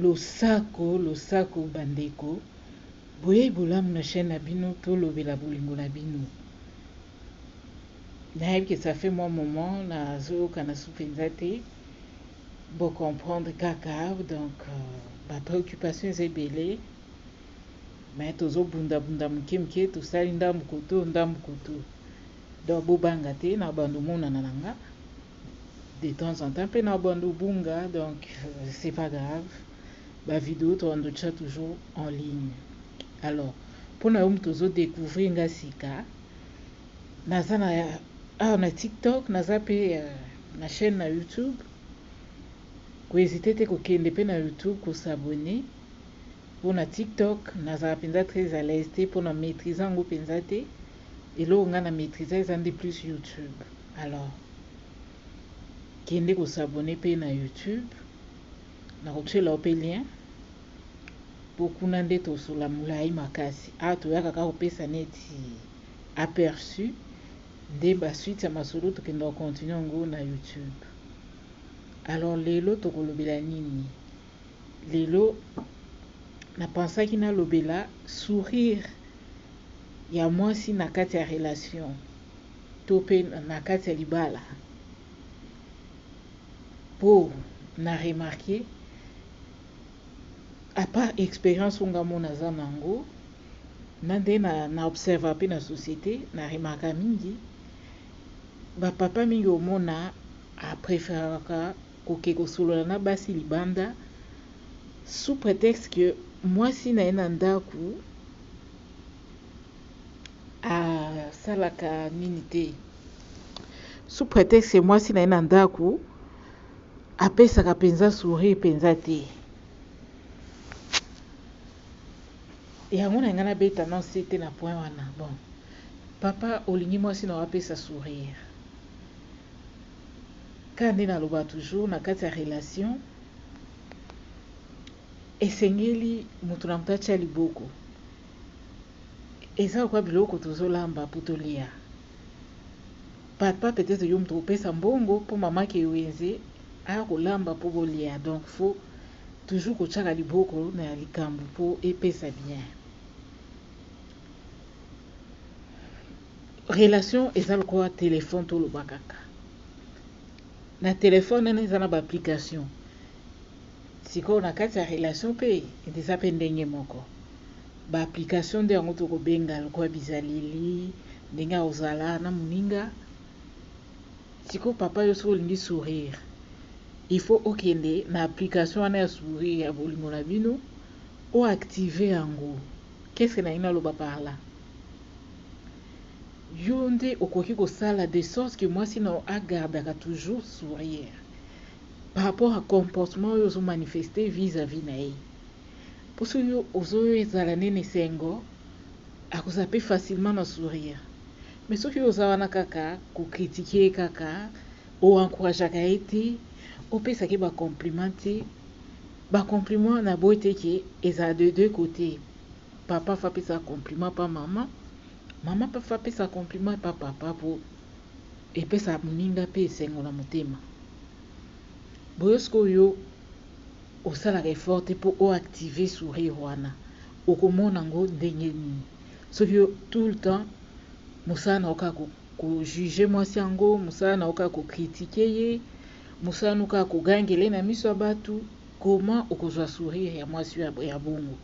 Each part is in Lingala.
Losako losako ba ndeko boyei bolamu na chaine na bino tolobela bolingo na bino nayebi ke ça fait moi moment na zoyoka na su penza te bo comprendre kaka donc euh, ba préoccupation eza ebele mais tozo bunda bunda moke moke tosali ndambu koto ndambu koto donc bobanga te na bando monana na nga de temps en temps pe na bando bunga donc c'est pas grave ba video to ando tcha toujours en ligne alors pona yo mutu ozo découvrir nga sika naza na awa na TikTok naza pe euh, na chaîne na YouTube ko hésiter te ko kende pe na YouTube ko s'abonner pona TikTok nazala penza très à l'aise te pona maîtriser yango penza te eloko nga na maîtriser eza nde plus YouTube Alors kende ko s'abonner pe na youtube nako tiela yo pe lien po kuna nde tosola mulayi makasi awa toyaka kaka kopesa neti aperçu nde ba suite ya masolo tokende ko continuer yango na youtube alors lelo tokolobela nini lelo na pensaki nalobela sourire ya mwasi na kati ya relation to pe na kati ya libala po na remarquer à part experience oyo nga moko naza na yango na nde na observa pe na societe na remarka mingi ba papa mingi omona a preferaka koke kosolola na basi libanda sous pretexte que mwasi na ye na ndako asalaka nini te sous prétexte mwasi na ye na ndako apesaka mpenza sourire mpenza te yango na ngai nabeta non se te na point wana bon papa olingi mwasi na yo apesa sourire kaka nde naloba toujours na kati ya relation esengeli moto na moto atya liboko Eza lokola biloko tozo lamba po tolia. Papa peut-etre yo mutu opesa mbongo po maman Kiwenze aya kolamba po bolia donc faut toujours kotiaka liboko na likambu po epesa bien. Relation eza lokola telephone toloba kaka na telephone wana eza na ba application. Sikoyo na kati ya relation pe eza pe ndenge moko. Ba application nde yango toko benga lokola bizaleli, ndenge ya kozala na moninga. Sikoyo papa yo soki olingi sourire, il faut okende na application wana ya sourire ya bolingo na bino, o activer yango. Qu'est ce que nalingi naloba par là? Yo nde okoki kosala de sorte que mwasi na yo a gardaka toujours sourire. par rapport à comportement oyo ozo manifester vis à vis naye po soki ozo zala nde na esengo ako zappe facilement na sourire mais soki oza wana kaka ko critiquer ye kaka o encourageaka ye te o pesaka ye ba compliments te ba compliments na boyi te ke ezala de deux cotes papa faut apesa compliment epa maman maman pe faut apesa compliment epa papa po Epesaka moninga mpe esengo na motema. Boye sikoyo yo osalaka effort te mpo o activer sourire wana, okomona yango ndenge nini? Soki yo tout le temps mosala na yo kaka ko juger mwasi yango, mosala na yo kaka ko critiquer ye, mosala na yo kaka kogangela ye na miso ya batu, comment okozwa sourire ya mwasi ya bongo?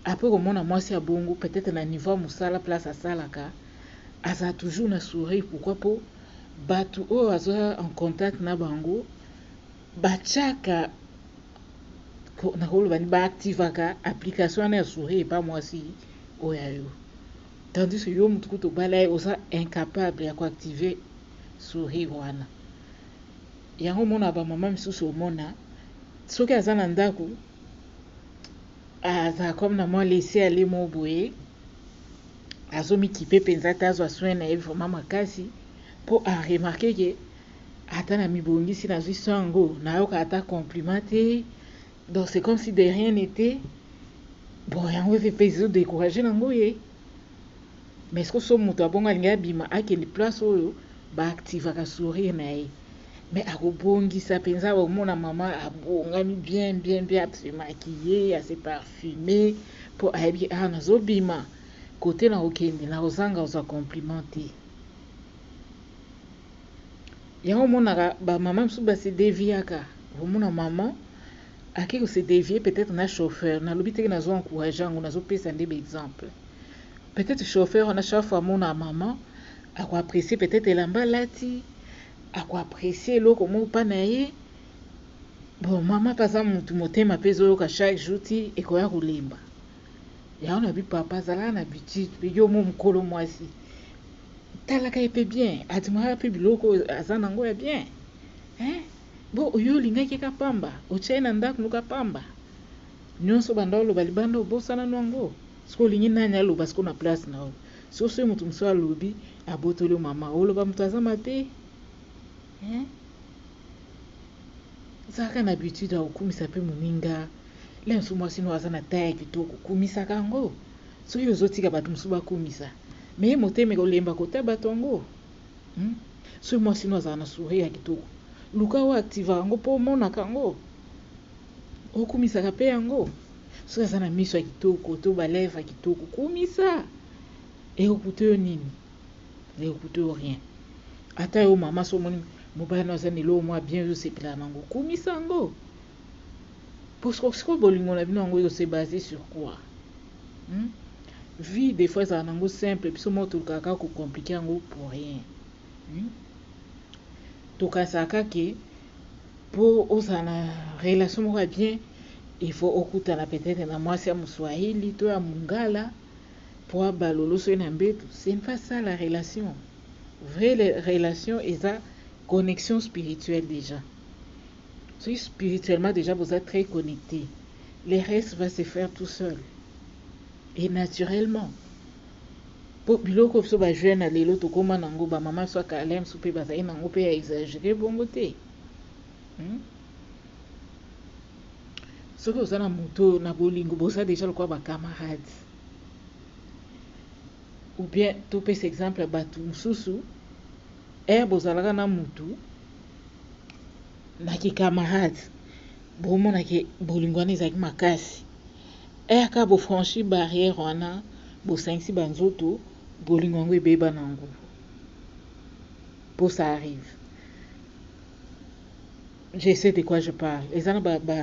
Apres okomona mwasi ya bongo peut-etre na niveau ya mosala place asalaka, Azala toujours na sourire pourquoi po batu oyo aza en contact na bango batiaka nakoloba ni ba activaka application wana ya sourire epa mwasi oyo ya yo tandis que yo mutu kutu obala ye oza incapable ya koactive sourire wana yango omona bamama misusu omona soki aza na ndako azala comme na mwa lese ale mo boye azomikipe mpenza te azwa soin na ye vraiment makasi mpo aremarke ke ata na mibongisi nazwi soin yango nayoka ata compliment te donc c'est comme si de rien n'était bon yango ete mpe ezo décourage nango ye mais ce que so moto abongo alingi abima akende place oyo baactivaka sourire na ye me akobongisa mpenza omona mama abongami bien bien bien asemaki ye ase parfume Po ayebi awa nazo bima cote nako kende nako zanga kozwa compliment te yango omonaka ba maman misusu ba se deviaka okomona maman ake ko se devier peut-être na chauffeur nalobi teke nazo encourager yango nazo pesa nde ba exemple peut-être chauffeur wana chaque fois amona maman ako apprécier peut-être elamba alati ako apprécier eloko moko pa na ye Bon maman pe aza mutu motema pe ezoyoka chaque jour ti ekoya kolemba yango na bi papa azalaka na habitude pe yo mo mokolo mwasi talaka ye pe bien adimaka pe biloko aza na yango ya bien hein? bo oyo olingaki ye ka pamba otya ye na ndako noka pamba nyonso banda oloba libanda obosana no yango soki olingi nani aloba siko na place na yo soki soki moto mosusu alobi abotoli yo mama oloba moto aza mabe Zalaka na habitude ya kokumisa mpe moninga. Lelo mosusu mwasi noko aza na taille kitoko, kumisaka yango. Soki ozotika bato mosusu bakumisa, mais motema ekolemba kota bato yango. Hmm? Soki mwasi noko azala na sourire ya kitoko, luka oyo activaka yango mpo omonaka yango. Okumisaka mpe yango. Soki aza na miso ya kitoko to balèvre ya kitoko, kumisa. Ekokuta yo nini? ne coûte rien ata yo mama so omoni mobali na aza na eloko mwa bien ozosepelaka nango kumisa yango parceke sikoyo bolingo na bino yango ose base sur quoi hmm? vie des fois ezala nango simple biso moko tolukaka kaka kocomplike yango pour rien hmm? tokanisaka kaka ke mpo ozala na relation moko ya bien il faut okutana peut-être na mwasi ya moswahili to ya mungala Pua ba loloso ye na mbetu c'est pas ça la relation vrai relation eza connexion spirituelle dejà soki spirituellement dejà boza très connecte le reste va se faire tout seul et naturellement po biloko biso ba jeune ya lelo tokoma nango ba mama biso ya kala misusu pe bazali nango pe ya exagere bongo te hmm? soki oza na moto oyo na bolingo boza deja lokola bacamarade ou bien topesa exemple ya bato mosusu ere eh, bozalaka na motu na kikamarade bomonake bolingo wana ezalaki makasi ere eh, kaka bofranchi barrière wana bosangisi banzoto bolingo yango ebeba na yango mpo ça arrive je sais de quoi je parle eza na ba, ba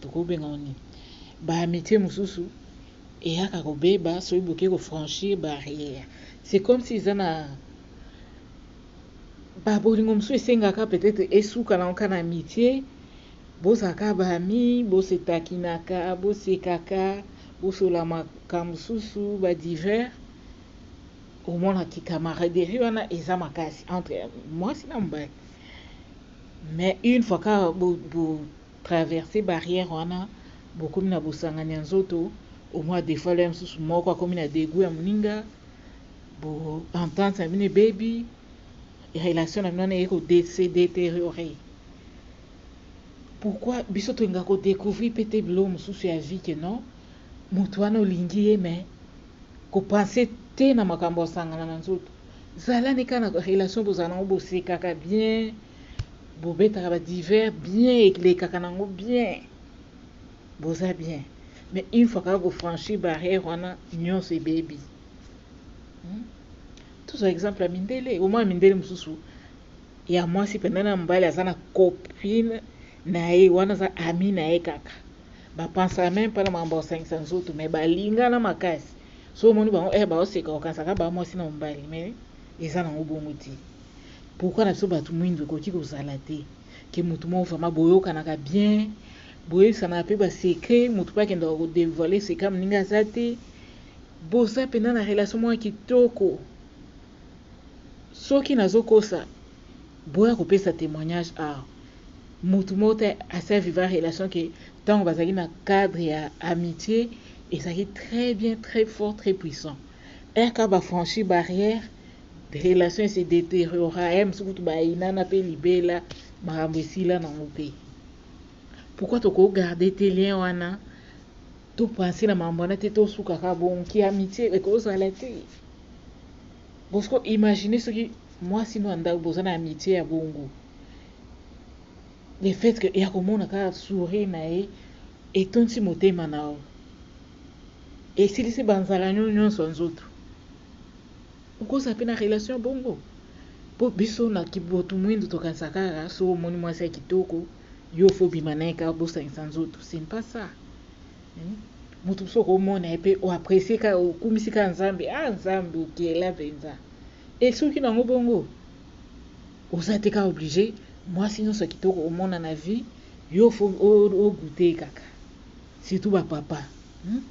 tokobenga oni ba amitié mosusu eyaka kobeba soki boke kofranchir barrière c'est comme si eza na babolingo mosusu esengaka peut-être esuka na oka na amitié bozalaka baami bosetakinaka bosekaka bosolamaka mosusu badivers Omonaki camaraderie wana eza makasi entre mwasi na mobali mais une fois ka bo, bo traverse barrière wana bokomi na bosangani ya nzoto omwa defaut ya mosusu moko akomi na degout ya moninga bo entente na bino ebebi relation na bino wana eye ko se deteriore pourquoi biso tolinga kodecouvrir mpe te biloko mosusu ya vie ke non moto wana olingi ye mais Ko pense te na makambo ya sangana na nzoto zala ne ka na relation bozala nango bosekaka bien bobetaka ba divers bien elekaka nango bien boza bien mais une fois kaka ko franchir barrière wana nionso ebebi hmm? tozwa exemple ya mindele omona mindele mosusu ya mwasi penda na mobali aza na copine na ye wana aza ami na ye kaka ba pensaka meme pas na makambo ya kosangisa nzoto mais balingana makasi so omoni bango eh baoseka okanisaka ba mwasi na mobali mais eza nango bongo te pourquoi na biso bato mwindu ekoki kozala te ke motu moko vraiment boyokanaka bien boyebisanaka mpe basecret motu mpe akendaka kodevoile secret moninga aza te boza mpenza na relation moko kitoko Soki nazo kosa boya kopesa temoignage awa. Mutu moko te asi a viva relation que tango bazalaki na cadre ya amitie ezalaki très bien, très fort, très puissant. Heure kaka ba franchir barrière, relation e se deteriora heure mosusu kutu ba yinana pe libela makambo esila nango te. Pourquoi toko garder te lien wana? To penser na makambo wana te, to suka kaka bongo? Ki amitie eko zala te. Bosco imagine soki muasi no ya ndaku boza na amitie ya bongo le fait que ya komona kaka sourire na ye etonsi motema na yo esilisi ba nzala nyo nyonso ya nzoto okozala pe na relation ya bongo po biso na kibotu muindu tokanisa kaka soki omoni muasi ya kitoko yo faut obima na ye kaka bosangisa nzoto ce ne pas ça mutu mosusu okomona ye mpe o apprecie kaka okumisi kaka nzambe ah nzambe okela mpenza e soki nango bongo oza te kaka oblige mwasi nyonso ya kitoko omona na vie yo fo ogute kaka surtout bapapa hmm?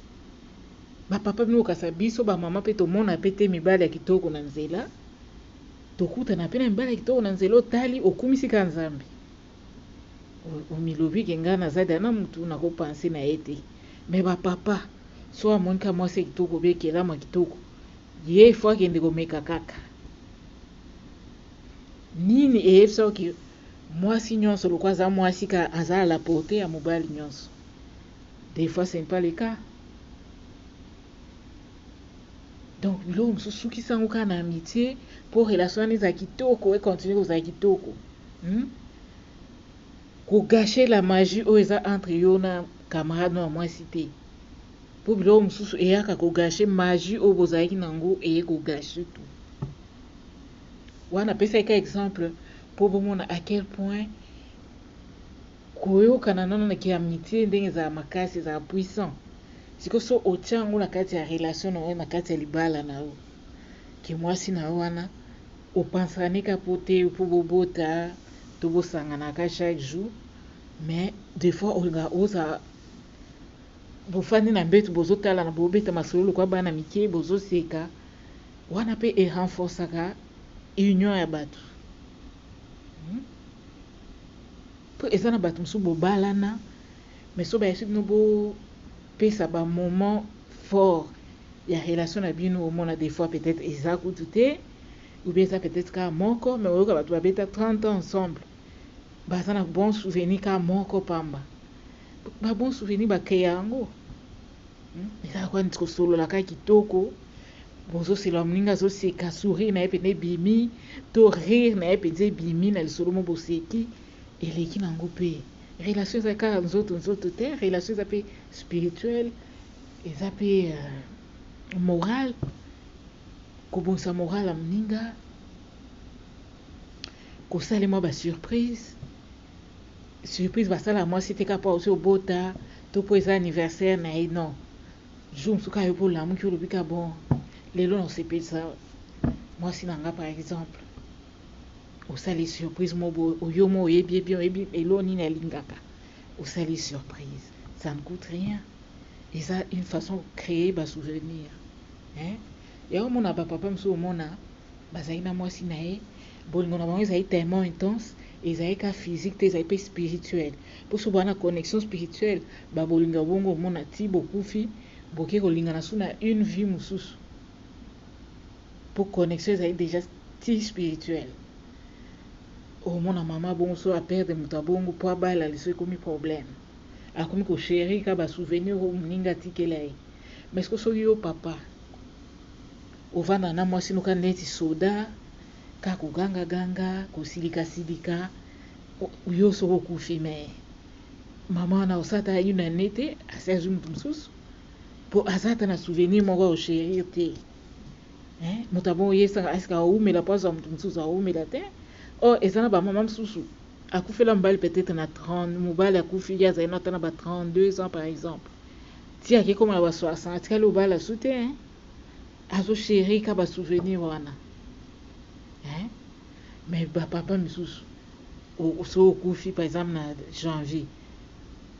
bapapa bino okasa biso bamama mpe tomona mpe te mibali ya kitoko na nzela tokutana mpe na mibali ya kitoko na nzela otali okumisi kaka nzambe omilobi ke nga naza da na mutu nako pense na ye te mais ba papa so amoni ka mwasi ya kitoko be kelama kitoko ye il faut akende komeka kaka nini eyebisa oke mwasi nyonso lokwa aza mwasi ka aza à la portée ya mobali nyonso des fois c'est pas le cas donc biloko mosusu sukisa yango kaka na amitie mpo relation wana ezala kitoko econtinue kozala kitoko hmm? kogashe la magie oyo eza entre yo na camarade no ya mwasi te mpo biloko mosusu eyaka kogashe magie oyo bozalaki na yango eye kogashe tu wana apesaki ka exemple mpo bomona à quel point Koyokana na na ki amitie ndenge ezalaka makasi ezalaka puissant sikoyo so otia yango na kati ya relation na yo na kati ya libala na yo ke muasi na yo wana opanzaka ne ka po te po bobota to bosangana ka chaque jour mais de fois olingaka oza bofandi na mbetu bozotalana bobeta masolo lokwa bana mike bozoseka wana pe e renforcaka union ya batu Po eza na batu mususu bobalana mais soki bayebisi bino bo pesa ba moment fort ya relation na bino omona des fois peut etre eza kutu te ou bien eza peut etre kaka moko mais oyoka batu ba beta 30 ans ensemble baza na bon souvenir kaka moko pamba ba bon souvenir ba creya yango Ezalaka neti kosolola kaka kitoko, bozosela moninga azoseka sourire na ye mpenza ebimi to rire na ye mpenza ebimi na lisolo mo boseki eleki na yango mpe relation eza kaka nzoto nzoto te relation eza mpe spirituelle eza mpe euh, morale kobongisa morale ya moninga kosala mwa basurprise surprise basala mwasi te kaka mpo auti obota to mpo eza anniversaire na ye non jour mosusu kaka yo mpe olamuki olobi ka bon lelo na osepelisa mwasi na nga par exemple osali surprise mo boye oyo mo oyebi ye bien oyebi elo nini alingaka osali surprise ça ne coûte rien eza une façon créer ba souvenir hein yango omona bapapa mosusu omona Bazali na mwasi na ye, bolingo na bango ezali tellement intense, ezali kaka physique te, ezali pe spirituel. Po soki boza na connexion spirituelle, ba bolingo ya bongo omona tii bokufi, boke kolingana sous na une vie mosusu. Po connexion ezali dejà tii spirituelle. Omona mama bongo soki a perdre moto ya bongo po abala liso ekomi problème. Akomi ko cherir kaka ba souvenirs oyo moninga atikela ye. Mais sikoyo soki yo papa, Ovanda na mwasi no ka neti soda ka koganga ganga kosilika silika yo soki okufi mais maman wana osa ata une annee te asi azwi moto mosusu po aza ata na souvenir moko ya ocherir te hein? moto abongo ye esaka esika awumela po azwa moto mosusu awumela te or eza na bamama mosusu akufela mobali peut-être na 30 mobali akufi ye azali na ata na ba 32 ans par exemple ti akekoma na ba 60 atikali obala su te hein? azo cherie ka ba souvenir wana hein mais ba papa misusu so okufi par exemple na janvier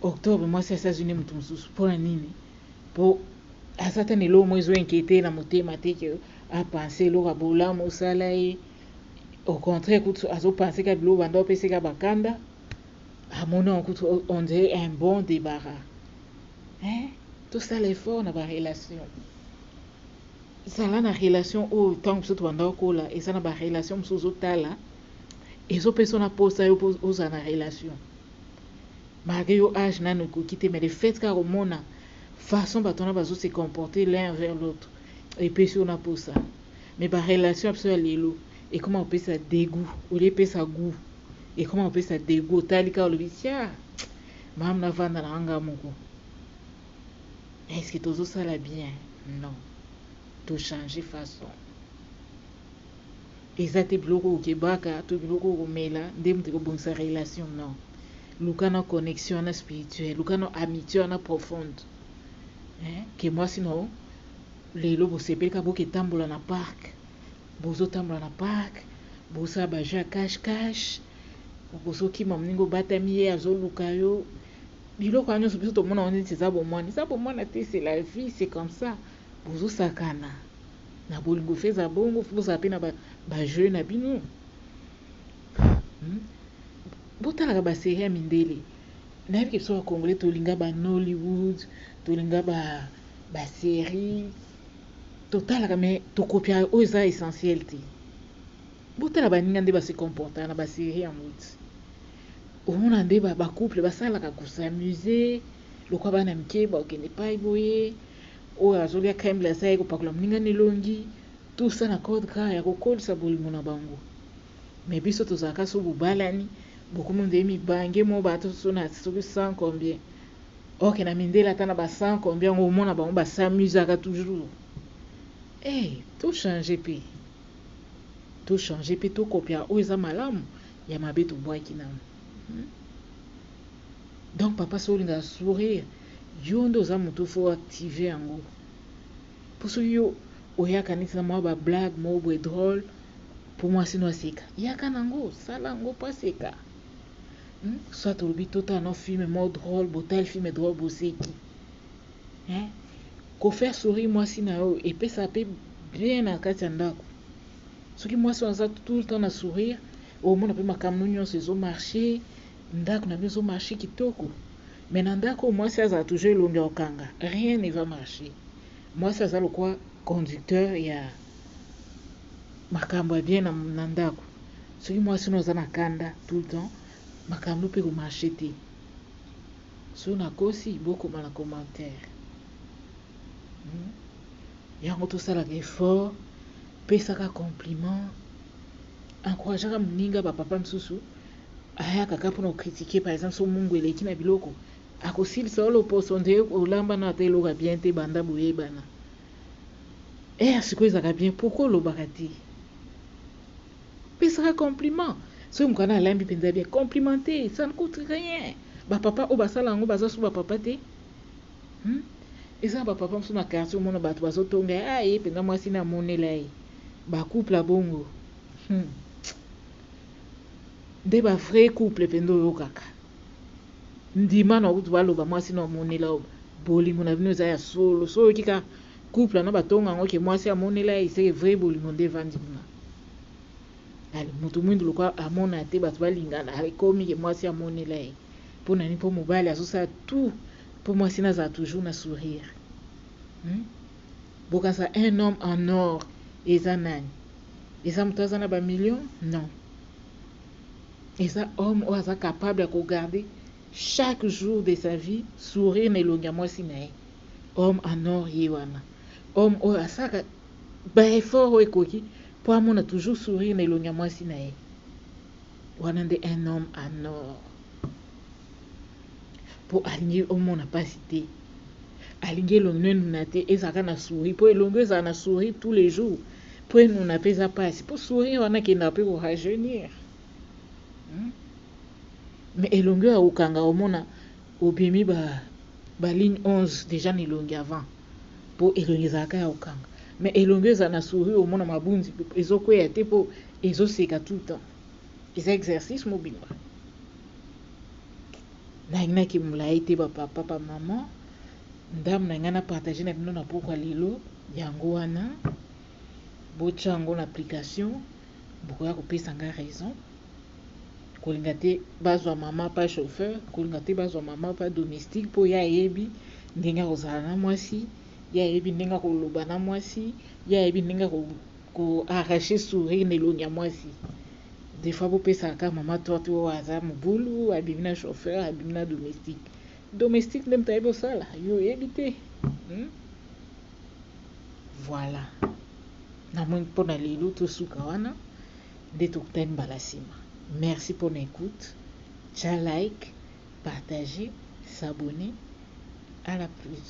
octobre mwasi ya États-Unis mutu mususu mpo na nini mpo aza ata na eloko moko ezo inquiete na motema te ke apense eloko ya bolamu osala ye au contraire kutu azo pense ka biloko banda opesa ye ka bakanda Ah mon nom kutu on dirait un bon débarras. Hein? Tout ça l'effort na ba relation. Zala na relation oyo ntango mosusu tobanda okola eza na ba relation mosusu ozotala ezopesa na posa yo ozala na relation malgré yo âge nano ekoki te mais le fait kaka komona façon bato wana bazo se comporter l'un vers l'autre epesi yo na posa mais ba relation ya biso ya lelo ekoma kopesa degout olie epesa gout ekoma kopesa degout otali kaka olobi tia mamu navanda na nga moko eske tozosala bien non tochange façon eza te biloko okebaka to biloko okomela nde moto ekobongisa relation non luka na connexion wana spirituel luka na amitié wana profonde eh, ke mwasi no lelo bosepelika boketambola na parke Bozo tambola na parc bosala ba jeux ya cache cache okozo kima muninga obatami ye azo luka yo biloko wana nionso biso tomona ngo neti eza bomwana eza bomwana te c'est la vie c'est comme ça bozo sakana na bolingo faut eza bongo faut bozala pe na ba, ba jeux na bino hmm? botalaka ba serie ya mindele nayebi ke biso ba congolais tolinga ba Nollywood tolinga ba ba serie Totalaka mais to copiaka oyo eza essentiel te. Botala baninga nde ba se comportaka na ba series ya mbote. Omona nde ba ba couple basalaka ko s'amuser lokola bana mike ba okende epayi boye oyo azolia creme glacee aye kopakola moninga na elongi tout ça na code gras ya kokolisa bolingo na bango. Mais biso tozalaka soki bobalani bokomi ondire mibange mo bato soki na soki 100 combien ok na mindele ata na ba 100 combien yango omona bango ba s'amusaka toujours eh to change pe to change pe to kopia oyo eza malamu ya mabe tobwaki nango hmm? donc papa soki olingaka sourire yo nde oza moto fo active yango Po soki yo oyaka neti na mwa ba blague moko boye drole po mwasi no aseka, yaka nango, sala yango po aseka. Hum soit olobi totala no film moko drole, botali film drole boseki. Hein? Ko faire sourire mwasi na yo epesaka pe bien na kati ya ndako. Soki mwasi wana aza tout le temps na sourire, omona pe makambo no nyonso ezo marcher, ndako na bino ezo marcher kitoko. Mais na ndaku mwasi azala toujours elongi ya kokanga rien ne va marcher mwasi aza lokwa conducteur ya makambo ya bien na, na ndaku soki mwasi no aza na kanda tout le temps makambo mpe ko marcher te soki nakosi bokoma na commentaire hmm? yango tosalaka effort pesaka compliment encourageaka moninga ba papa mosusu ayaka kaka mpona kokritike par exemple so mungu eleki na biloko akosilisa yo loposo nde olamba na ata eloko ya bien te banda boyebana e ya sikoyo ezalaka bien pourkui olobaka te pesaka compliment soki mokana alambi mpenza bien complimente ça ne coute rien bapapa oyo basala yango baza so bapapa te Hum eza ba papa mususu na quartier omona batu bazo tonga ye ah ye penza mwasi na monela ye ba couple ya bongo hum nde ba vrai couple penza oyokaka ndima na kutu baloba mwasi na omonela yo bolingo na bino eza ya solo so oyoki ka couple wana batonga yango ke mwasi amonela ye seke vrai bolingo nde evandi kuna ale moto mwindu lokola amona te bato balingana ekomi ke mwasi amonela ye mpo na nini mpo mobali azosala tout Po mwasi nazala toujours na sourire hum bokanisa un homme en or eza nani? Eza mutu aza na ba millions? Non eza homme oyo aza capable ya ko garder chaque jour de sa vie sourire na elongi ya mwasi na ye homme en or ye wana homme oyo asaka ba effort oyo ekoki po amona toujours sourire na elongi ya mwasi na ye wana nde un homme en or. po alingi omona pasi te alingi elongi no enuna te ezala kaka na souri po elongi ezala na souri tous les jours po enuna pe eza pasi po souri wana ekendaka pe ko rajeunir hmm? mais elongi oyo akokanga omona obimi ba, ba ligne 11 deja na elongi avant po elongi ezalaka ya kokanga mais elongi ezala na souri omona mabunzi ezokweya te po ezoseka tout le temps eza exercice mobimba nayinaki molayi te ba papa ba maman ndambo na ngai na partage na bino na pokwa lelo yango wana botya yango na application bokoya kopesa ngai raison kolinga te bazwa mama pa chauffeur kolinga te bazwa mama pa domestique mpo ye ayebi ndenge akozala na mwasi ye ayebi ndenge akoloba na mwasi ye ayebi ndenge Ko arracher sourire na elongi ya muasi des fois bopesaka kaka maman torte oyo aza mobulu abimi na chauffeur abimi na domestique domestique nde moto ayebi osala yo oyebi te hmm? voilà namoni mpo na lelo tosuka wana nde tokutani mbala nsima merci mpo na écoute tya like partager s'abonner à la plus